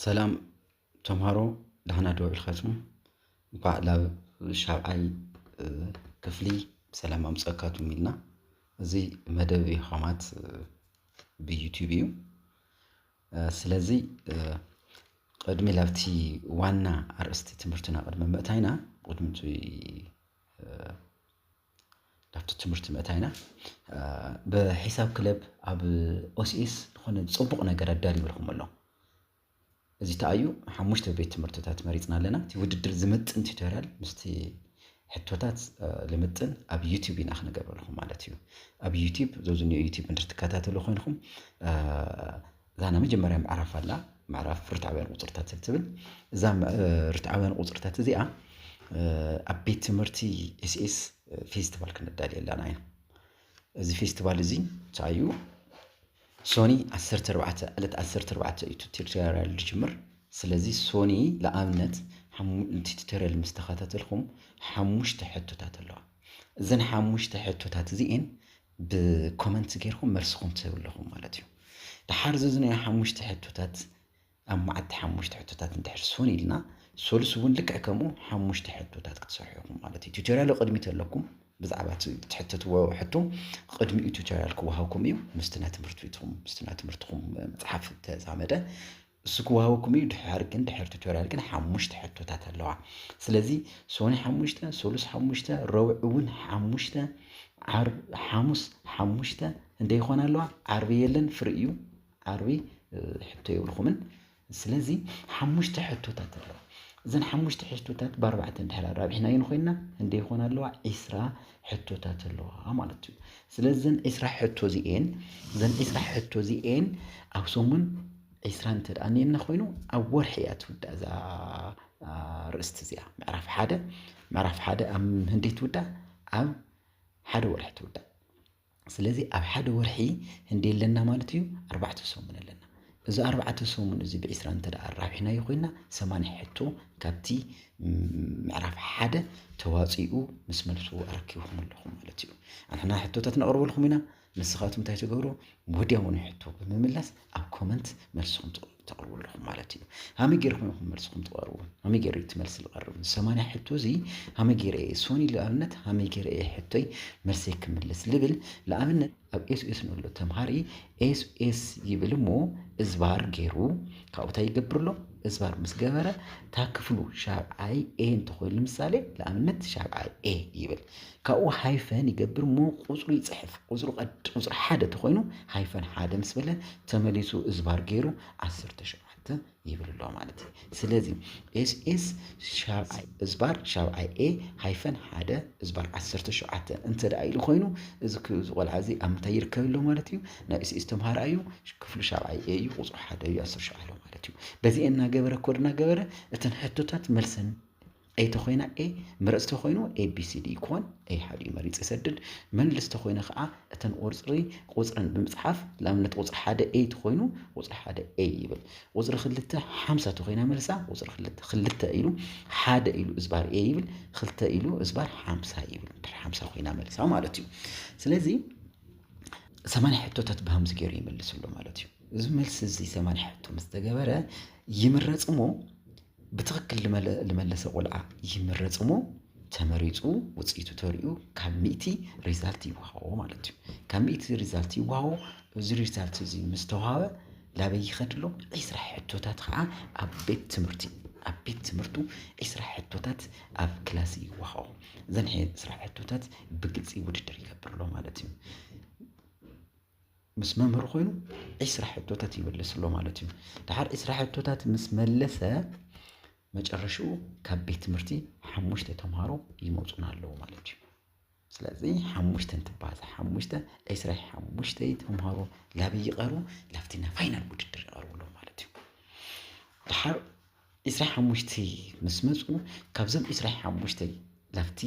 ሰላም ተምሃሮ ዳሕና ዶ ኢልካትኩም እንኳዕ ናብ ሻብዓይ ክፍሊ ብሰላም ኣምፀካቱም ኢልና እዚ መደብ ዮሃማት ብዩቲብ እዩ ስለዚ ቕድሚ ላብቲ ዋና ኣርእስቲ ትምህርትና ቅድሚ ምእታይና ቅድሚ ላብቲ ትምህርቲ ምእታይና ብሒሳብ ክለብ ኣብ ኦስኤስ ዝኾነ ጽቡቕ ነገር ኣዳልዩልኩም ኣሎ እዚ ተኣዩ ሓሙሽተ ቤት ትምህርትታት መሪጽና ኣለና እቲ ውድድር ዝምጥን ቲቶርያል ምስቲ ሕቶታት ልምጥን ኣብ ዩቲዩብ ኢና ክንገብረልኹም ማለት እዩ ኣብ ዩቲዩብ ዘዝኒኦ ዩቲዩብ እንድር ትከታተሉ ኮይንኹም እዛ ናይ መጀመርያ ምዕራፍ ኣላ ምዕራፍ ርትዓውያን ቁፅርታት ትብል እዛ ርትዓውያን ቁፅርታት እዚኣ ኣብ ቤት ትምህርቲ ኤስኤስ ፌስቲቫል ክንዳልየላና ኢና እዚ ፌስቲቫል እዚ እንታይ እዩ ሶኒ ዓሰርተ ኣርባዕተ ዕለት ዓሰርተ ኣርባዕተ እዩ ቱቶሪያል ዝጅምር ስለዚ ሶኒ ንኣብነት ሓሙ እቲ ቱቶሪያል ምስ ተኸታተልኩም ሓሙሽተ ሕቶታት ኣለዋ እዘን ሓሙሽተ ሕቶታት እዚኤን ብኮመንት ጌርኩም መልስኹም ትህቡ ኣለኹም ማለት እዩ ደሓር እዚ ናይ ሓሙሽተ ሕቶታት ኣብ መዓልቲ ሓሙሽተ ሕቶታት እንድሕር ስውን ኢልና ሰሉስ እውን ልክዕ ከምኡ ሓሙሽተ ሕቶታት ክትሰርሑ ኢኹም ማለት እዩ። ቱቶሪያሉ ቅድሚት ኣለኩም ብዛዕባ እቲ ትሕተትዎ ሕቶ ቅድሚኡ ቱቶሪያል ክወሃብኩም እዩ ምስቲ ናይ ትምህርቲ ቤትኩም ምስቲ ናይ ትምህርትኩም መፅሓፍ ተዛመደ እሱ ክወሃበኩም እዩ ድሕር ግን ድሕር ቱቶሪያል ግን ሓሙሽተ ሕቶታት ኣለዋ ስለዚ ሶኒ ሓሙሽተ ሰሉስ ሓሙሽተ ረቡዕ እውን ሓሙሽተ ዓርብ ሓሙስ ሓሙሽተ እንደ ይኾና ኣለዋ ዓርቢ የለን ፍሪ እዩ ዓርቢ ሕቶ የብልኩምን ስለዚ ሓሙሽተ ሕቶታት ኣለዋ እዘን ሓሙሽተ ሕቶታት ብኣርባዕተ እንድሕር ኣራቢሕናየን ኮይና እንደ ይኾና ኣለዋ ዒስራ ሕቶታት ኣለዋ ማለት እዩ ስለዚ ዘን ዒስራ ሕቶ እዚኤን ዘን ዒስራ ሕቶ እዚኤን ኣብ ሰሙን ዒስራ እንተ ደኣ ኔና ኮይኑ ኣብ ወርሒ እያ ትውዳእ እዛ ርእስቲ እዚኣ ምዕራፍ ሓደ ምዕራፍ ሓደ ኣብ ህንደይ ትውዳእ ኣብ ሓደ ወርሒ ትውዳእ ስለዚ ኣብ ሓደ ወርሒ ህንደይ ኣለና ማለት እዩ ኣርባዕተ ሰሙን ኣለና እዚ ኣርባዕተ ሰሙን እዚ ብዒስራ እንተ ኣራቢሕናዮ ኮይና ሰማንያ ሕቶ ካብቲ ምዕራፍ ሓደ ተዋፂኡ ምስ መልሱ ኣረኪብኩም ኣለኹም ማለት እዩ ኣንሕና ሕቶታት ነቕርበልኩም ኢና ንስኻትኩም እንታይ ትገብሩ ወዲያውኑ ሕቶ ብምምላስ ኣብ ኮመንት መልስኹም ትቕሉ ተቕርቡ ኣለኹም ማለት እዩ ሃመይ ጌርኩም ኢኹም መልስኹም ትቐርቡ ሃመይ ጌረ እቲ መልሲ ዝቐርብ ሰማንያ ሕቶ እዚ ሃመይ ጌረ እየ ሶኒ ንኣብነት ሃመይ ጌረ እየ ሕቶይ መልሰይ ክምልስ ልብል ንኣብነት ኣብ ኤስ ኤስ ንሎ ተምሃሪ ኤስ ኤስ ይብል እሞ እዝባር ገይሩ ካብኡ እንታይ ይገብር ኣሎ እዝባር ምስ ገበረ እታ ክፍሉ ሻብዓይ ኤ እንተኾይኑ ንምሳሌ ንኣብነት ሻብዓይ ኤ ይብል ካብኡ ሃይፈን ይገብር እሞ ቁጽሩ ይጽሕፍ። ቁጽሩ ቀድ ቁጽሪ ሓደ ተኾይኑ ሃይፈን ሓደ ምስ በለ ተመሊሱ እዝባር ገይሩ ዓሰርተ ሸውዓተ ይብል ኣሎ ማለት እዩ። ስለዚ ኤስ ኤስ ሻብዓይ እዝባር ሻብዓይ ኤ ሃይፈን ሓደ እዝባር ዓሰርተ ሸውዓተ እንተ ደኣ ኢሉ ኮይኑ እዚ ቆልዓ እዚ ኣብ ምንታይ ይርከብ ኣሎ ማለት እዩ? ናይ ኤስ ኤስ ተምሃራይ እዩ፣ ክፍሉ ሻብዓይ ኤ እዩ፣ ቁጽሩ ሓደ እዩ፣ ዓሰርተ ሸውዓተ ማለት እዩ። በዚ እናገበረ ኮድ እናገበረ እተን ሕቶታት መልሰን ኤይ ተኾይና ኤይ መረጽ ተኾይኑ ABCD ይኮን ኤይ ሓዲኡ መሪጽ ይሰድድ መልስ ተኾይነ ከኣ እተን ቁርጽሪ ቁጽረን ብምጽሓፍ ንኣብነት ቁጽሪ ሓደ ኤይ ተኾይኑ ቁጽሪ ሓደ ኤይ ይብል ቁጽሪ ክልተ ሓምሳ ተኾይና መልሳ ቁጽሪ ክልተ ክልተ ኢሉ ሓደ ኢሉ እዝባር ኤይ ይብል ክልተ ኢሉ እዝባር ሓምሳ ይብል ድሕሪ ሓምሳ ኮይና መልሳ ማለት እዩ ስለዚ ሰማንያ ሕቶታት ብሃምዚ ገይሩ ይመልስ ኣሎ ማለት እዩ እዚ መልሲ እዚ ሰማንያ ሕቶ ምስ ተገበረ ይምረጽ እሞ ብትኽክል ልመለሰ ቆልዓ ይምረፅ እሞ ተመሪፁ ውፅኢቱ ተሪኡ ካብ ሚእቲ ሪዛልት ይወሃቦ ማለት እዩ። ካብ ሚእቲ ሪዛልት ይወሃቦ እዚ ሪዛልት እዚ ምስ ተዋሃበ ላበይ ይኸድ ኣሎ ዒስራ ሕቶታት ከዓ ኣብ ቤት ትምህርቲ ኣብ ቤት ትምህርቱ ዒስራ ሕቶታት ኣብ ክላስ ይወሃቦ እዘን ዒስራ ሕቶታት ብግልፂ ውድድር ይገብር ኣሎ ማለት እዩ። ምስ መምህሩ ኮይኑ ዒስራ ሕቶታት ይምልስ ኣሎ ማለት እዩ። ድሓር ዒስራ ሕቶታት ምስ መለሰ መጨረሽኡ ካብ ቤት ትምህርቲ ሓሙሽተ ተምሃሮ ይመፁና ኣለዉ ማለት እዩ። ስለዚ ሓሙሽተ እንትባዛ ሓሙሽተ ዕስራ ሓሙሽተ ተምሃሮ ላበይ ይቐርቡ? ላብቲ ናይ ፋይናል ውድድር ይቐርቡ ኣለዉ ማለት እዩ። ድሓር ዕስራ ሓሙሽተ ምስ መጹ ካብዞም ዕስራ ሓሙሽተ ላብቲ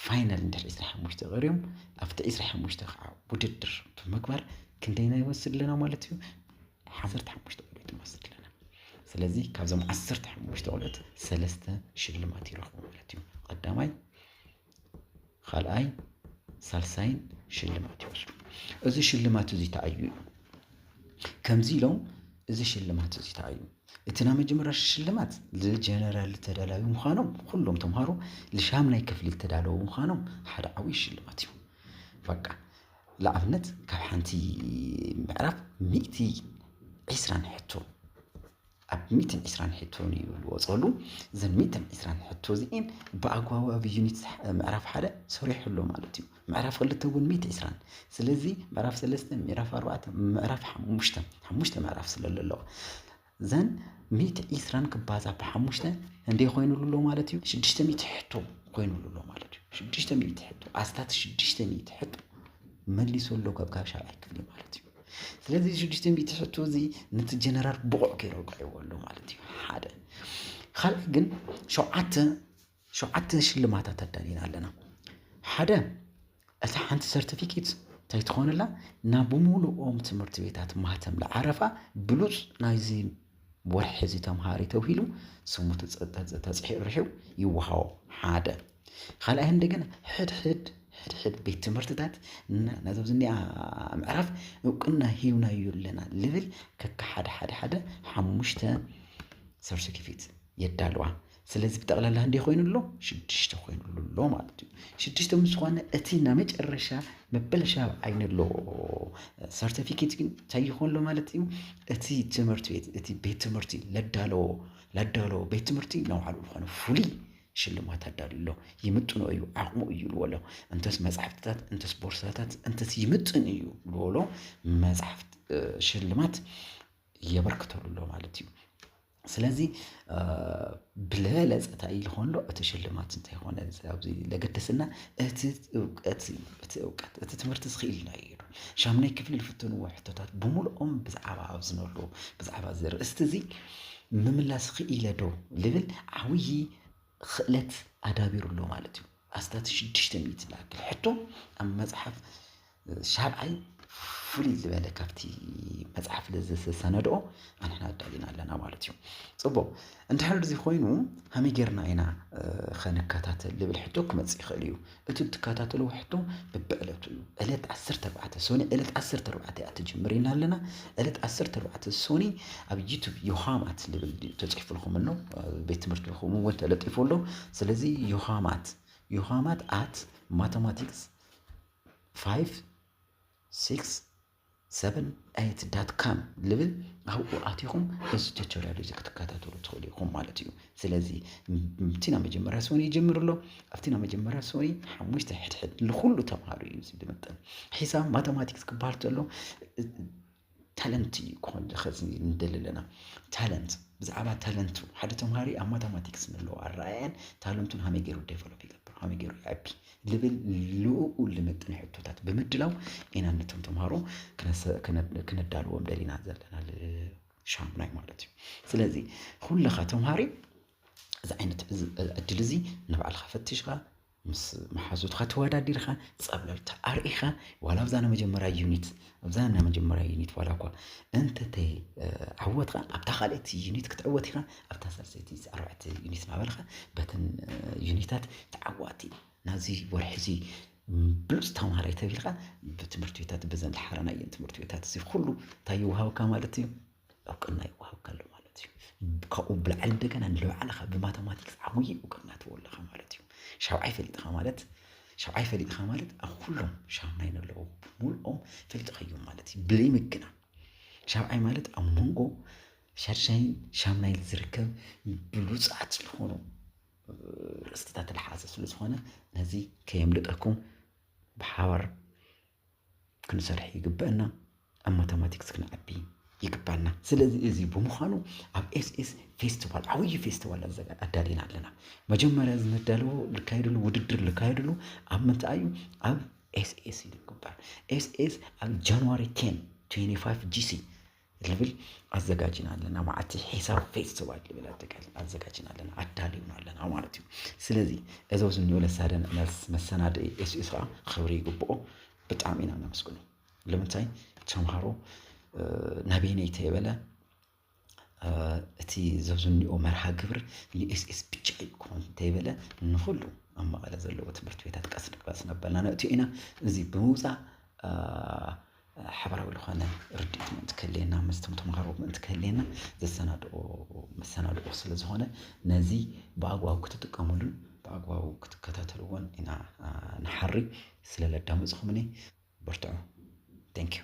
ፋይናል እንድሕር ዕስራ ሓሙሽተ ቀርዮም ኣብቲ ዕስራ ሓሙሽተ ከዓ ውድድር ብምግባር ክንደይና ይወስድ ኣለና ማለት እዩ ዓሰርተ ሓሙሽተ ቆልዑት ንወስድ ኣለና ስለዚ ካብዞም ዓሰርተ ሓሙሽተ ቆልዑት ሰለስተ ሽልማት ይረኽቡ ማለት እዩ ቀዳማይ ኻልኣይ ሳልሳይን ሽልማት ይወስዱ። እዚ ሽልማት እዚ ተኣዩ እዩ ከምዚ ኢሎም እዚ ሽልማት እዚ ተኣዩ እቲ ናይ መጀመርያ ሽልማት ዝጀነራል ተዳላዊ ምዃኖም ኩሎም ተምሃሮ ልሻምናይ ክፍሊ ዝተዳለዉ ምዃኖም ሓደ ዓብዪ ሽልማት እዩ በቃ ንኣብነት ካብ ሓንቲ ምዕራፍ ሚእቲ ዒስራን ሕቶ ኣብ ሚእትን ዒስራን ሕቶ ንዩ ልወጸሉ። እዘን ሚእትን ዒስራን ሕቶ እዚኤን ብኣግባቡ ኣብ ዩኒት ምዕራፍ ሓደ ሰሪሑ ኣሎ ማለት እዩ። ምዕራፍ ክልተ እውን ሚእቲ ዒስራን ስለዚ ምዕራፍ ሰለስተ፣ ምዕራፍ ኣርባዕተ፣ ምዕራፍ ሓሙሽተ ሓሙሽተ ምዕራፍ ስለ ለለዎ ዘን ሚእቲ ዒስራን ክባዛ ብሓሙሽተ እንዴ ኮይኑሉ ኣሎ ማለት እዩ ሽዱሽተ ሚእቲ ሕቶ ኮይኑሉ ኣሎ ማለት እዩ ሽዱሽተ ሚእቲ ሕቶ ኣስታት ሽዱሽተ ሚእቲ ሕቶ መሊሱ ኣሎ ካብ ካብ ሻብዓይ ክፍሊ ማለት እዩ ስለዚ እዚ ሽዱሽተ ሚእቲ ሕቶ እዚ ነቲ ጀነራል ብቑዕ ገይሩ ኣውቂዕዎ ኣሎ ማለት እዩ ሓደ ካልእ ግን ሸውዓተ ሸውዓተ ሽልማታት ኣዳሊና ኣለና ሓደ እታ ሓንቲ ሰርቲፊኬት እንታይ ትኾነላ ናብ ሙሉኦም ትምህርቲ ቤታት ማህተም ለዓረፋ ብሉፅ ናይዚ ወርሒ እዚ ተምሃሪ ተብሂሉ ስሙ ተተጽሒዑ ርሒው ይወሃቦ ሓደ ካልኣይ እንደገና ሕድሕድ ሕድሕድ ቤት ትምህርትታት ነዞም ዝኒኣ ምዕራፍ እውቅና ሂብናዩ ኣለና ልብል ከካ ሓደ ሓደ ሓደ ሓሙሽተ ሰርቲፊኬት የዳልዋ ስለዚ ብጠቕላላ እንዴ ኮይኑ ኣሎ ሽዱሽተ ኮይኑ ኣሎ ማለት እዩ ሽዱሽተ ምስ ዝኾነ እቲ ናይ መጨረሻ መበለሻብ ዓይኒ ኣሎ ሰርቲፊኬት ግን እንታይ ይኾን ኣሎ ማለት እዩ እቲ ትምህርቲ ቤት እቲ ቤት ትምህርቲ ለዳለዎ ለዳለዎ ቤት ትምህርቲ ነባዕሉ ዝኾነ ፍሉይ ሽልማት ኣዳልዩ ኣሎ ይምጥኖ እዩ ዓቕሙ እዩ ልዎ ኣሎ እንተስ መፅሓፍትታት እንተስ ቦርሳታት እንተስ ይምጥን እዩ ልዎ ኣሎ መፅሓፍት ሽልማት የበርክተሉ ኣሎ ማለት እዩ ስለዚ ብልበለፀ እንታይ ልኾን ኣሎ እቲ ሽልማት እንታይ ኾነ ኣብዚ ለገደሰና እቲ እውቀት እዩ እቲ እውቀት እቲ ትምህርቲ ዝኽኢልና እዩ ኢሉ ሻምናይ ክፍሊ ዝፍተንዎ ሕቶታት ብምልኦም ብዛዕባ ኣብ ዝነሉ ብዛዕባ እዚ ርእስቲ እዚ ምምላስ ኽኢለ ዶ ልብል ዓብዪ ኽእለት ኣዳቢሩ ኣሎ ማለት እዩ። ኣስታት ሽዱሽተ ሚእቲ ዝኣክል ሕቶ ኣብ መጽሓፍ ሻብዓይ ፍልይ ዝበለ ካብቲ መጽሓፍ ዝሰነድኦ ኣንሕና ኣዳሊና ኣለና ማለት እዩ ጽቡቕ እንድሕር እዚ ኮይኑ ሃመይ ጌርና ኢና ኸንከታተል ልብል ሕቶ ክመጽእ ይኽእል እዩ እቲ እትከታተልዎ ሕቶ ብብዕለቱ እዩ። ዕለት ዓሰርተ ኣርባዕተ ሶኒ ዕለት ዓሰርተ ኣርባዕተ እያ ትጅምር ኢና ኣለና። ዕለት ዓሰርተ ኣርባዕተ ሶኒ ኣብ ዩቱብ ዮሃማት ዝብል ተፅሒፉልኩም ኣሎ ቤት ትምህርቲ ይኹም እውን ተለጢፉ ኣሎ። ስለዚ ዮሃማት ዮሃማት ኣት ማተማቲክስ ፋይቭ ሲክስ ሰቨን ኤይት ዳት ካም ልብል ኣብኡ ኣቲኹም እዚ ቱቶሪያል እዚ ክትከታተሉ ትኽእሉ ኢኹም ማለት እዩ ስለዚ እቲ ናብ መጀመርያ ሰኒ ይጀምር ኣሎ ኣብቲ ናብ መጀመርያ ሰኒ ሓሙሽተ ሕድሕድ ንኩሉ ተምሃሩ እዩ እዚ ብምጥን ሒሳብ ማተማቲክስ ክበሃል ተሎ ታለንት እዩ ክኾን ኸዚ ንደሊ ኣለና ታለንት ብዛዕባ ታለንቱ ሓደ ተምሃሪ ኣብ ማተማቲክስ ንለዎ ኣረኣያን ታለንቱን ሃመይ ገይሩ ዴቨሎፕ ይገብር ሃመይ ገይሩ ይዕቢ ልብል ልኡኡ ልምጥን ሕቶታት ብምድላው ኢና ነቶም ተምሃሮ ክነዳልዎም ደሊና ዘለና ሻሙናይ ማለት እዩ ስለዚ ኩለኻ ተምሃሪ እዚ ዓይነት ዕድል እዚ ንባዕልኻ ፈትሽኻ ምስ መሓዙትኻ ተወዳዲርኻ ፀብለልታ ኣርኢኻ ዋላ ኣብዛ ንመጀመሪያ ዩኒት ኣብዛ ናይ መጀመርያ ዩኒት ዋላኳ እንተተይ ዓወትካ ኣብታ ካልእቲ ዩኒት ክትዕወት ኢኻ ኣብታ ሳልሰይቲ ኣርባዕቲ ዩኒት ናበልካ በተን ዩኒታት ተዓዋቲ ናዚ ወርሒ እዚ ብሉፅ ተማሃራይ ተቢልካ ብትምህርቲ ቤታት በዘን ዝሓረናየን ትምህርቲ ቤታት እዚ ኩሉ እንታይ ይወሃብካ ማለት እዩ እውቅና ይወሃብካ ኣሎ ማለት እዩ። ካብኡ ብላዕሊ እንደገና ንባዕልኻ ብማተማቲክስ ዓብዪ እውቅና ትወለኻ ማለት እዩ። ሻብዓይ ፈሊጥኻ ማለት ሻብዓይ ፈሊጥኻ ማለት ኣብ ኩሎም ሻምናይ ነለዉ ብምልኦም ፈሊጥኻዮም ማለት እዩ ብዘይ ምግና ሻብዓይ ማለት ኣብ መንጎ ሻድሻይን ሻምናይን ዝርከብ ብሉፃት ዝኾኑ ርእስትታት ዝሓዘ ስለ ዝኾነ ነዚ ከየምልጠኩም ብሓባር ክንሰርሕ ይግበእና ኣብ ማታማቲክስ ክንዓቢ ይግባና ስለዚ እዚ ብምዃኑ ኣብ ኤስኤስ ፌስቲቫል ዓብዪ ፌስቲቫል ኣዳሊና ኣለና መጀመርያ እዚ ዝዳለዎ ዝካየድሉ ውድድር ዝካየድሉ ኣብ ምንታይ እዩ ኣብ ኤስኤስ እዩ ዝግበር ኤስኤስ ኣብ ጃንዋሪ ቴን ትዌንቲ ፋይቭ ጂሲ ልብል ኣዘጋጅና ኣለና ማለት ሒሳብ ፌስቲቫል ልብል ኣጠቃል ኣዘጋጅና ኣለና ኣዳልዩና ኣለና ማለት እዩ ስለዚ እዚ ኣብዚ እኒኦ ለሳደን መልስ መሰናድኢ ኤስዩስ ከዓ ክብሪ ይግብኦ ብጣዕሚ ኢና ነመስግኖ ልምንታይ ተምሃሮ ናበይነይ ተይበለ እቲ ዘብዚ እኒኦ መርሃ ግብር ንኤስኤስ ብቻ ይኮን እንተይበለ ንኩሉ ኣብ መቐለ ዘለዎ ትምህርቲ ቤታት ቀስ ቀስ ነበልና ነእትዮ ኢና እዚ ብምውፃእ ሓባራዊ ልኾነ ርድኢት ምእንቲ ክህልየና ምስቶም ተምሃሮ ምእንቲ ክህልየና ዘሰናድኦ መሰናድኦ ስለ ዝኾነ ነዚ ብኣግባቡ ክትጥቀምሉን ብኣግባቡ ክትከታተልዎን ኢና ንሓሪ ስለ ለዳመፅኹምኒ በርትዑ ቴንኪዩ